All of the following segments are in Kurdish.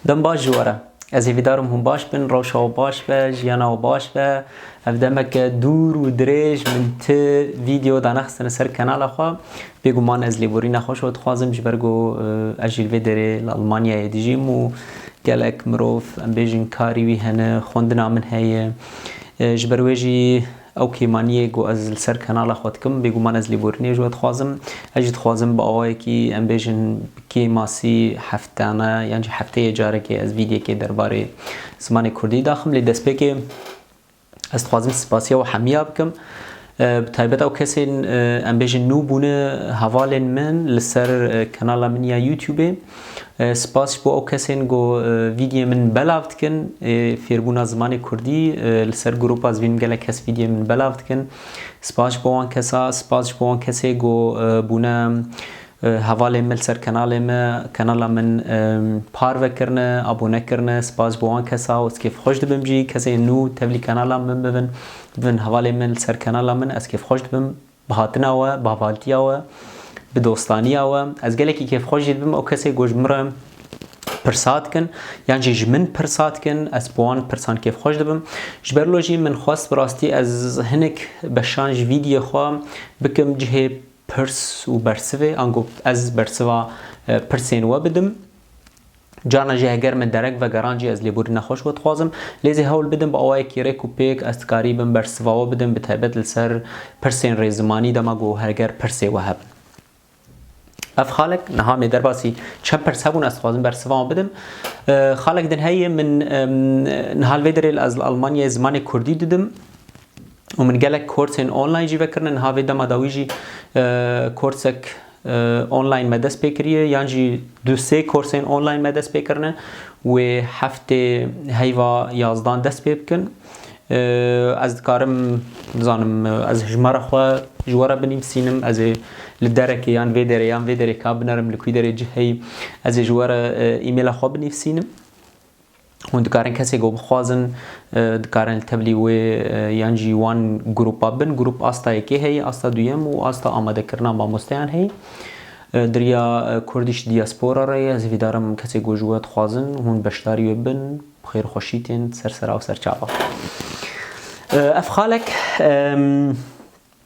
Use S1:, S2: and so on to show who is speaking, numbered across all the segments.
S1: Dem baş ji we re. Ez hîvîdarim hûn baş bin, rewşa we baş be, jiyana we baş be. Ev demeke dûr û dirêj min ti vîdeo da nexistine ser kanala xwe. Bêguman ez lêborîna xwe ji we dixwazim ji ber ku ez jî li vê derê li Elmanyayê dijîm û gelek mirov em bêjin karî wî hene, xwendina min heye. Ji ber wê jî Ew kêmaniyê ku ez li ser kanala xwe dikim, bêguman ez lêborînê ji we dixwazim. Ez jî dixwazim bi awayekî em bêjin bi kê masî heftane yan jî hefteyê carekê ez vîdyekê derbarê zimanê kurdî daxim. Lê destpêkê ez dixwazim sipasiya we hemiya bikim. Bi taybet ew kesên em bêjin nû bûne hevalên min li ser kanala min ya Youtubê. Spas ji bo ew kesên ku vîdyê min belav dikin. Fêrbûna zimanê Kurdî li ser grupa zibîn gelek kes vîdyê min belav dikin. Spas ji bo wan kesa, spas ji bo wan kesê ku bûne hevalên min li ser kenalê me, kenala min parve kirine, abone kirine. Spas ji bo wan kesa û ez kêfxweş dibim jî kesên nû tevlî kenala min bibin, bibin hevalên min li ser kenala min ez kêfxweş dibim. Bi hatina we, bi havaltiya we, bi dostaniya we ez gelekî kêfxwejî dibim ew kesê ku ji min re pirsa dikin yan jî ji min pirsa dikin ez bi wan pirsan kêfxweş dibim. Ji ber wilo jî min xwest bi rastî ez hinek beşan ji vîdyê xwe bikim cihê pirs û bersivê ango ez bersiva pirsên we bidim. Carna jî heger min derek vegeran jî ez lêborî nexweş we dixwazim. Lê zî hewl bidim bi awayekî rêk û pêk ez dikarî bim bersiva we bidim bi taybet li ser pirsên rê zimanî dema ku heger pirsê we hebin. Ev xalek niha mê derbasî çend pirs hebûn ez dixwazim bersiva wan bidim. Xalek din heye min niha li vê derê ez li Elmanyayê zimanê kurdî didim. û min gelek korsên online jî vekirine niha vê dema da wî jî korsek online me dest pê kiriye yan jî du sê korsên online me dest pê kirine wê heftê heyva yazdan dest pê bikin ez dikarim nizanim ez hijmara xwe ji we re binîmsînim ez ê li derekê yan vê derê yan vê derê ka binerim li kûî derê cih heyî ez ê ji we re îmêla xwe binîvsînim Hûn dikarin kesê ku bixwazin dikarin li tevlî wê yan jî wan grûpa bin. Grûp asta yekê heye, asta duyem û asta amadekirina mamosteyan heye. Diriya Kurdiş Diaspora re ye. Ez hîvîdarim kesê ku ji we dixwazin hûn beşdarî wê bin, bi xêr û xweşî tên ser sera û ser çava. Ev xalek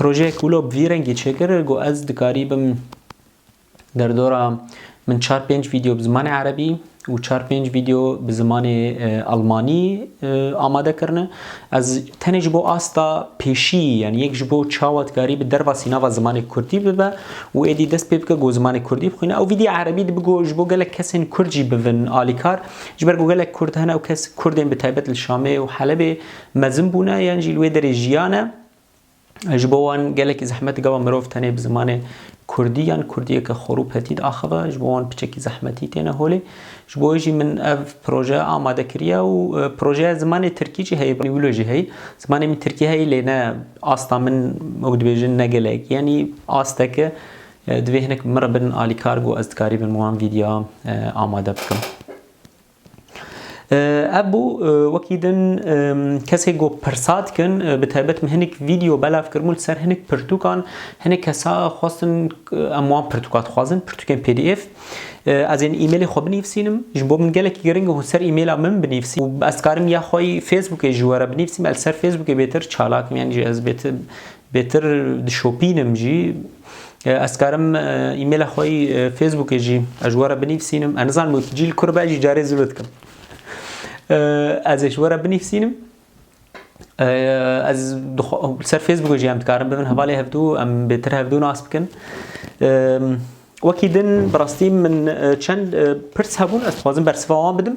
S1: Projeyek wilo bi vî rengî çêkir ku ez dikarî bim derdora min çar pênc vîdeo bi zimanê erebî û çar pênc vîdeo bi zimanê elmanî amade kirine. Ez tenê ji bo asta pêşî yanî yek ji bo çawa dikarî bi derva sînava zimanê kurdî bibe û êdî dest pê bike ku zimanê kurdî bixwîne. Ew vîdî erebî dibe ku ji bo gelek kesên kurd jî bibin alîkar. Ji ber ku gelek kurd hene ew kes kurdên bi taybet li Şamê û Helebê mezin bûne yan jî li wê derê jiyane. Ji bo wan gelekî zehmet gava mirov tenê bi zimanê Kurdî yan Kurdiyeke xwe rû petîd axive, ji bo wan piçekî zehmetî têne holê. Ji bo wê jî min ev proje amade kiriye û e, projeya zimanê Tirkî jî heye, wilo jî heye. Zimanê min Tirkî heye lê ne asta min wek dibêjin ne gelek. Yanî asteke e, divê hinek min re bin alîkar ku ez dikarîbin wan vîdya e, amade bikim. Ev bû wekî din kesê ku pirsa dikin bi taybet min hinek vîdeo belav kiribûn li ser hinek pirtûkan hinek kesa xwestin em wan pirtûka dixwazin pirtûkên pdf ez ên îmêlê xwe binivîsînim ji bo min gelekî giring hûn ser îmêla min binivîsî û ez dikarim ya xwe yî Facebookê ji we re binivîsîm ez li ser Facebookê bêtir çalak im yanî jî ez bêtir bêtir dişopînim jî Ez karim e-maila xwe yî Facebookê jî ez ji we re binivîsînim. Ez nizanim wekî cî li kur be jî carê zû li dikim. Ez ê ji we re binivîsînim. Ez ser Facebookê jî em dikarin bibin hevalê hevdû em bêtir hevdû nas bikin. Wekî din bi rastî min çend pirs hebûn ez dixwazim bersiva wan bidim.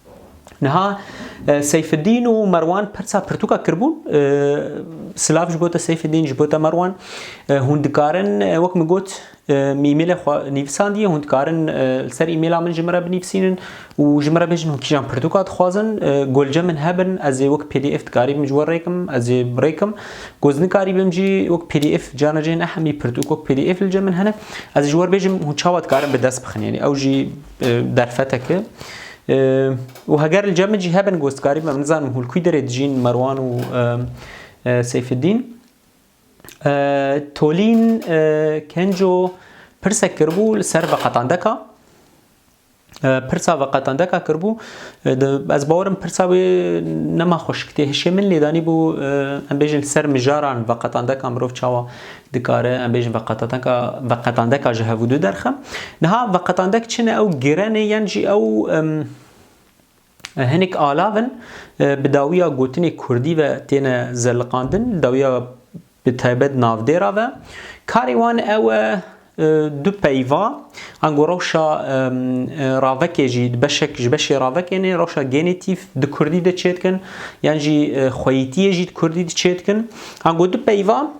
S1: Niha Seyfidîn û Merwan pirsa pirtûka kiribûn. Silav ji bo te Seyfidîn, ji bo te Merwan. Hûn dikarin wek min got îmêlê xwe nivîsandiye, hûn dikarin li ser îmêla min ji min re binivîsînin û ji min re bêjin hûn kîjan pirtûka dixwazin. Golce min hebin ez ê wek pdf dikarîbim ji we rêkim, ez ê rêkim. Ku ez nikarîbim jî wek pdf carna cih ne hemî pirtûk wek pdf li cem min hene. Ez ê ji we re bêjim hûn çawa dikarin bi dest bixin. Yanî ew jî. Derfeteke û heger li cem min jî hebin gostkarî me, min nizanim hûn li kûî derê dijîn Merwan û Seyfidîn. Tolîn Kenco pirsek kiribû li ser veqetandeka. Pirsa veqetandeka kiribû. Ez bawerim pirsa wê nema xweşik tê hişê min lê danîbû em bêjin li ser mijaran veqetandeka mirov çawa Dikare em bêjin veqetandeka veqetandeka ji hevûdu derxe. Niha veqetandek çi ne ew girenê yan jî ew hinek alav in bi dawiya gotinê kurdî ve têne zeliqandin dawiya bi taybet navdêra ve. Karê wan ew e du peyva ango rewşa ravekê jî beşek ji beşê ravekênê rewşa genetîf di kurdî de çêdikin yan jî xweyîtiyê jî di kurdî de çêdikin. Ango du peyva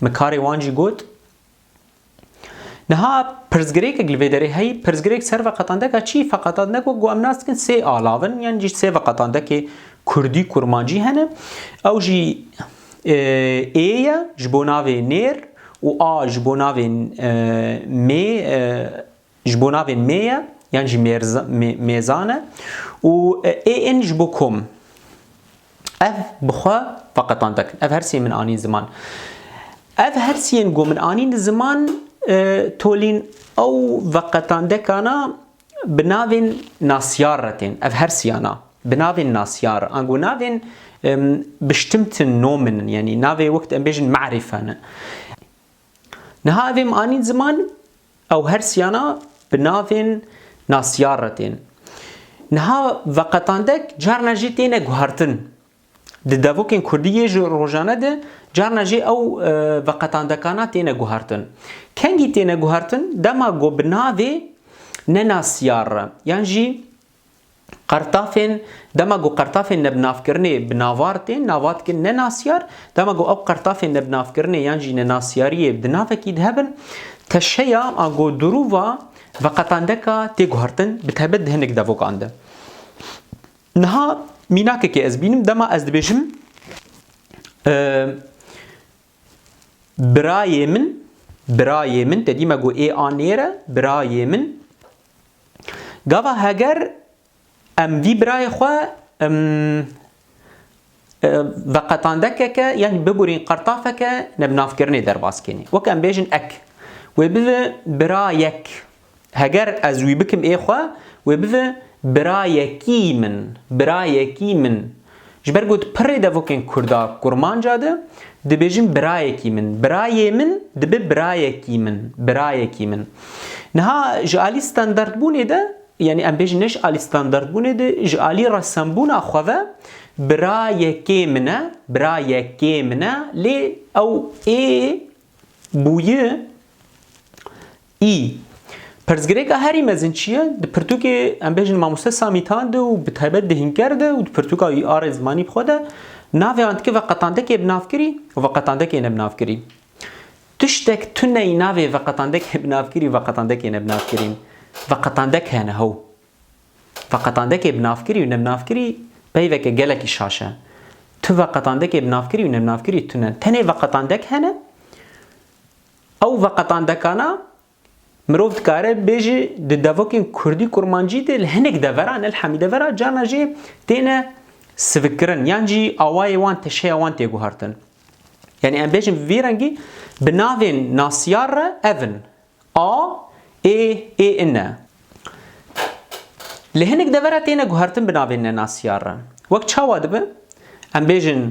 S1: Min karê wan jî got, Niha pirsgirêkek li vê derê heye, pirsgirêk ser veqetandeka çi ye? Veqetandek wek ku em nas dikin sê alav in yan jî sê veqetandekê kurdî, kurmancî hene. Ew jî ê ye ji bo navê nêr û a ji bo navê mê Ji bo navê mê ye yan jî mêzan e û ê in ji bo kom. Ev bi xwe veqetande kin. Ev hersiyên min anîn ziman. Ev hersiyên ku min anîn ziman tolîn ew veqetandekana bi navên nasyar re tên. Ev hersiyana bi navên nasyar re ango navên bestimmten Nomen in yanî navê wek em bêjin me'rîfe ne. Niha ev êm anîn ziman, ew her siyana bi navên nasiyar re tên. Niha veqetandek carna jî têne guhertin. Di devokên kurdî yê ji rojane de carna jî ew veqetandekana têne guhertin. Kengî têne guhertin dema ku bi navê ne nasiyar re yan jî Qertafên, dema ku qertafên nebinavkirinê bi navar tên, nava dikin nenasyar, dema ku ew qertafên nebinavkirinê yan jî nenasyariyê di navekî de hebin, teşeya a ku dirûva veqetandeka tê guhertin bi taybet di hinek devokan de. Niha mînakekê ez bînim, dema ez dibêjim, Birayê min, birayê min te dîme got ê a nêr e, birayê min. Gava heger em vî birayê xwe veqetandekeke yanî bibûrîn qertafeke nebnavkirinê derbas kenê. Wek em bêjin ek. Wê bibe birayek. Heger ez wî bikim ê xwe, wê bive birayekî min, birayekî min. Ji ber ku di pirrê devokên kurda kurmanca de dibêjin birayekî min, birayê min dibe birayekî min, birayekî min. Niha ji alî standartbûnê de, yanî em bêjin ne ji alî standartbûnê de, ji alî resembûna xwe ve bira yekê min e, bira yekê min e lê ew ê bûyi Î. Pirsgirêka herî mezin çi ye? Di pirtûkê em bêjin mamoste Samî Tan de û bi taybet di Hînker de û di pirtûka wî arê zimanî bi xwe de navê an dike veqetandekê bi nav kirî û veqetandekê ne bi nav kirî. Tiştek tune yî navê veqetandekê bi nav kirî û veqetandekê ne bi nav kirî. Veqetandek hene how. Veqetandekê bi nav kirî û ne bi nav kirî peyveke gelekî şaş e. Tu veqetandekê bi nav kirî û ne bi nav kirî tune. Tenê veqetandek hene. Ew veqetandekana mirov dikare bêje di devokên kurdî kurmancî de li hinek deveran ne li hemî devera carna jî têne sivikkirin yan jî awayê wan teşeya wan tê guhertin. Yanî em bêjin vî rengî bi navên nasiyar re ev in a, ê, ê in e. Li hinek devera têne guhertin bi navên nenasiyar re. Wek çawa dibe? Em bêjin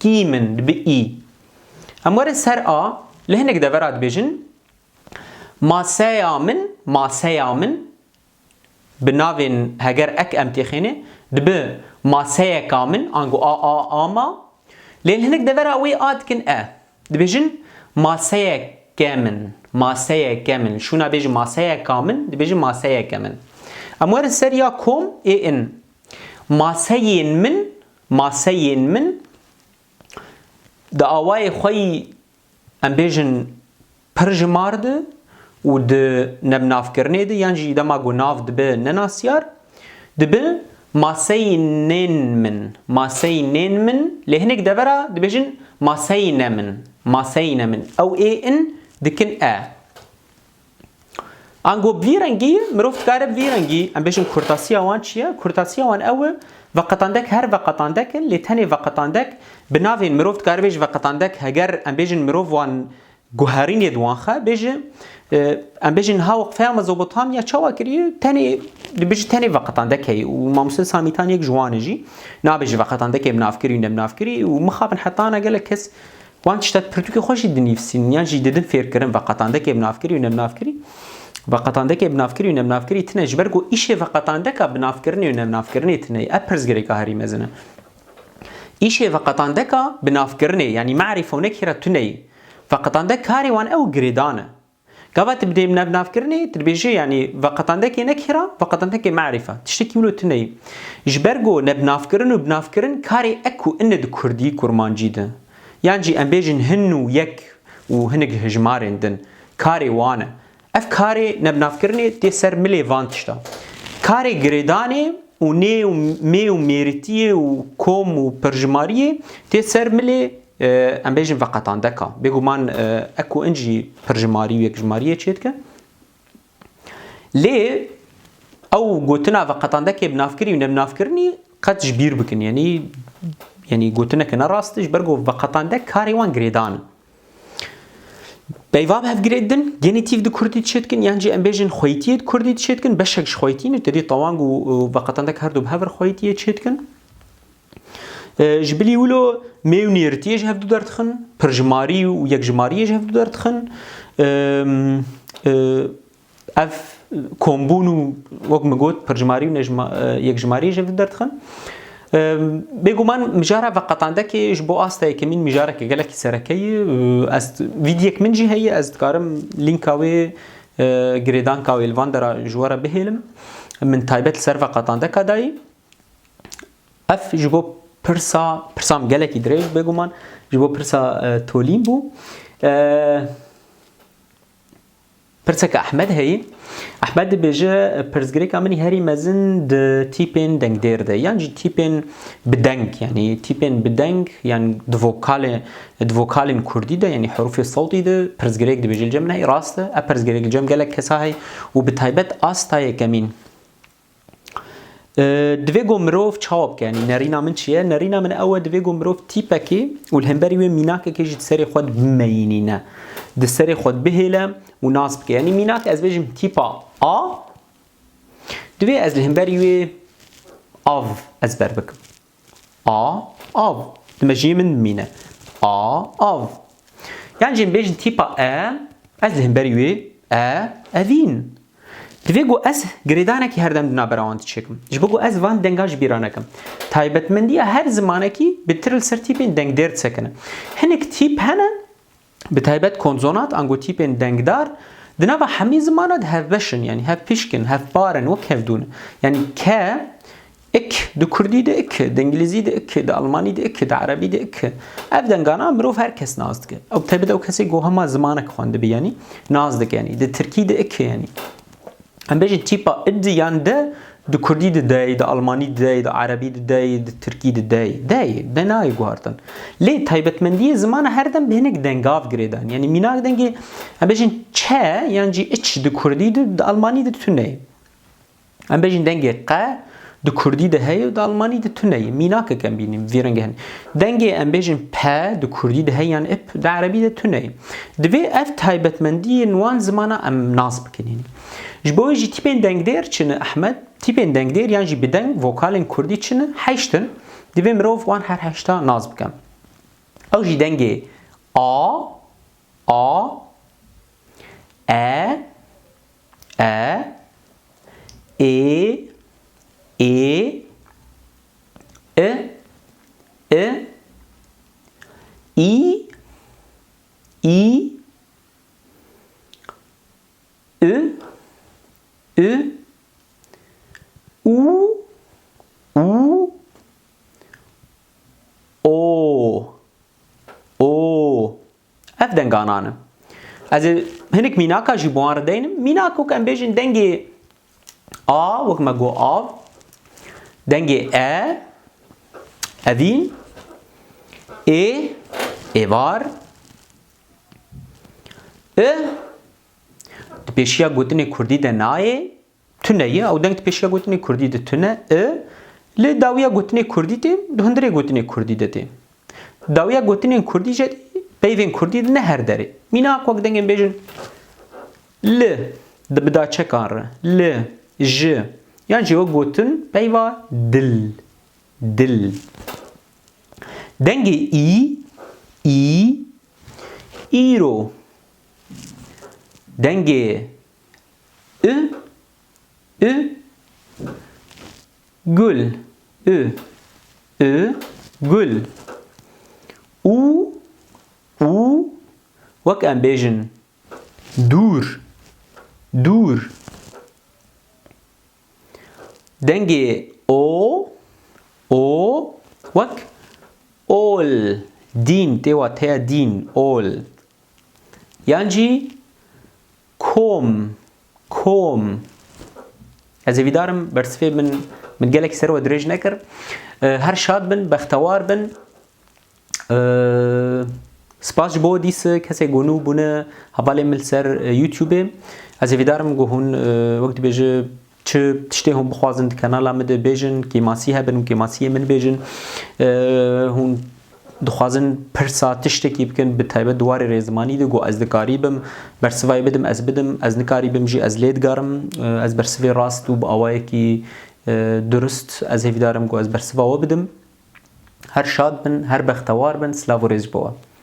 S1: Kî min dibi î. Em werin ser a, li hinek devera dibêjin Maseya min, maseya min bi navên heger ek em têxêne dibi maseyeka min ango a, a, a ma lê li hinek devera wê a dikin e. Dibêjin maseyeke min, maseyeke min. Şûna bêjin maseyeka min, dibêjin maseyeke min. Em werin ser ya kom ê in. Maseyên min Maseyên min di awayê xwe yî em bêjin pir ji mar di û di nebnavkirinê di yan jî dema ku nav dibe nenasyar dibi maseyinên min, maseyinên min lê hinek devera dibêjin maseyine min, maseyine min ew ê in dikin e. Ango vî rengî mirov dikare vî rengî em bêjin kurtasiya wan çi ye? Kurtasiya wan ew e veqetandek her veqetandek in lê tenê veqetandek bi navên mirov dikare bêje veqetandek heger em bêjin mirov wan guherînê di wan xe bêje em bêjin niha weqfeya Mezopotamya çawa kiriye tenê dibêje tenê veqetandekê û mamoste Samî Tan yek ji wan e jî nabêje veqetandekê bi nav kirî ne bi nav kirî û mixabin hetana gelek kes Wan tişta di pirtûkê xwe jî dinivîsîn yan jî didin fêrkirin veqetandekê bi navkirî û nebinavkirî. Veqetandekê bi navkirî û nebinavkirî tune ji ber ku îşê veqetandeka bi navkirinê û nebinavkirinê tune ye. Ev pirsgirêka herî mezin e. Îşê veqetandeka bi navkirinê yanî merîfone kî re tune ye. Veqetandek karê wan ew girêdan e. Gava tu bi dê navnavkirinê tu dibêjî yanî veqetandekê ne kira, veqetandekê merîf e. Tiştekî wilo tune yî. Ji ber ku nebnavkirin û binavkirin karê ek û in e di kurdî, kurmancî de. Yan jî em bêjin hin û yek û hinek hijmarên din. Karê wan e. Ev karê nebnavkirinê tê ser milê van tişta. Karê girêdanê û nê û mê û mêrîtiyê û kom û perjimariyê tê ser milê. Em bêjin veqetan deka. Bêguman eko in jî pirjimarî û yekjimariyê çêdike. Lê ew gotina veqetan dekê bi navkirî û nebinavkirinî qet ji bîr bikin. Yanî yanî gotineke ne rast ji ber ku veqetan dek karê wan girêdan in. Peyva bi hev girêd din, genîtîf di kurdî çêdikin yan jî em bêjin xweytiyê di kurdî çêdikin, beşek ji xweytî ne, tedî tewang û veqetan dek herdu bi hev re xweytiyê çêdikin. Ji bilî wilo mêy û nêrîtiyê ji hev du der dixin, pirjimarî û yekjimariyê ji hev du der dixin. Ev kombûn û wek min got pirjimarî û yekjimariyê ji hev du der dixin. Bêguman mijara veqetandekê ji bo asta yekemîn mijareke gelekî sereke ye. Ez vîdyek min jî heye ez dikarim lînka wê girêdanka wê li van dera ji we re bihêlim. Min taybet li ser veqetandeka dayî. Ev ji bo pirsa pirsam gelekî dirêj bêguman ji bo pirsa tolîn bû. Pirseke Ahmed heyî. Ahmed dibêje pirsgirêka min herî mezin di tîpên dengdêr de yan jî tîpên bi deng yanî tîpên bi deng yan di vokalê di vokalên kurdî de yanî herûfê sewtî de pirsgirêk dibêje cem neyê rast e e pirsgirêk cem gelek kesa heye û bi taybet asta yekemîn Divê ku mirov çawa bike? Yanî nerîna min çi ye? Nerîna min ew e divê ku mirov tîpekê û li hemberî wê mînakekê jî di serê xwe de bimeyînîne. Di serê xwe de bihêle û nas bike. Yanî mînak ez bêjim tîpa A divê ez li hemberî wê av ezber bikim. A, av. Di mejiyê min bimîne. A, av. Yan jî em bêjin tîpa e, ez di hemberî wê e, evîn. Divê ku ez girêdanekî her dem di navbera wan diçêkim. Ji bo ku ez van dengan ji bîr nekim. Taybetmendiya her zimanekî bi tir li ser tîpên dengdêr disekine. Hinek tîp hene Bi taybet konsonat ango tîpên dengdar di nava hemî zimana de hevbeş in yanî hevpişk in, hevpar in, wek hevdûn in. Yanî ke, ik, di kurdî de ik, di îngilîzî de ik, di almanî de ik, di erebî de ik. Ev dengana mirov her kes nas dike. Ew bi taybet ew kesê ku hema zimanek xwendibe yanî nas dike yanî. Di tirkî de ik e yanî. Em bêjin tîpa id yan de di kurdî de dey, di almanî de dey, di erebî de dey, di tirkî de dey. Dey, de nayê guhartin. Lê taybetmendiyê zimana her dem bi hinek dengav girêdan. Yanî mînak dengê em bêjin çe yan jî iç di kurdî de, di almanî de tune ye. Em bêjin dengê qe Di kurdî de heye û di almanî de tune ye. Mînakek em bînîn vî rengê hene. Dengê em bêjin p di kurdî de heye yan ip di erebî de tune ye. Divê ev taybetmendiyên wan zimana em nas bikin hînî. Ji bo wê jî tîpên dengdêr çi ne Ehmed? Tîpên dengdêr yan jî bi deng vokalên kurdî çi ne? Heşt in. Divê mirov wan her heşta nas bike. Ew jî dengê a, a, e, e, ê, ê, i, i, î, î, ü, ü, u, u, o, o, Ev denganan in. Ez ê hinik mînaka jî bi wan re deynim. Mînak wek em bêjin dengê a wek me got av, dengê e, evîn, ê, êvar, i di pêşiya gotinê kurdî de nayê, Tune ye, ew deng di pêşiya gotinê kurdî de tune i, lê dawiya gotinê kurdî tê, di hundirê gotinê kurdî de tê. Dawiya gotinên kurdî jî peyvên kurdî di ne her derê. Mînak wek dengên bêjin li, di bi daçekan re, li, ji, yan jî wek gotin peyva dil, dil. Dengê î, î, îro. Dengê ü ü gül ü ü gül u u wek em bêjin dûr dûr dengê o o wek ol dîn têwa teya dîn ol Yan jî kom, kom. Ez ê vîdarim bersivê min min gelekî ser we dirêj nekir. Her şad bin, bextewar bin. Spas ji bo dîsik kesê ku nû bûne hevalê min li ser YouTubeê. Ez ê vîdarim ku hûn wek dibêje Çi tiştê hûn bixwazin di kanala min de bêjin, kêmasî hebin û kêmasiyê min bêjin. Hûn dixwazin pirsa tiştekî bikin bi taybet di warê rêzimanî de ku ez dikarî bim bersivayê bidim ez bidim, ez nikarî bim jî ez lê digarim. Ez bersivê rast û bi awayekî durist ez hêvîdar im ku ez bersiva we bidim. Her şad bin, her bextewar bin, silav û rêz ji bo we.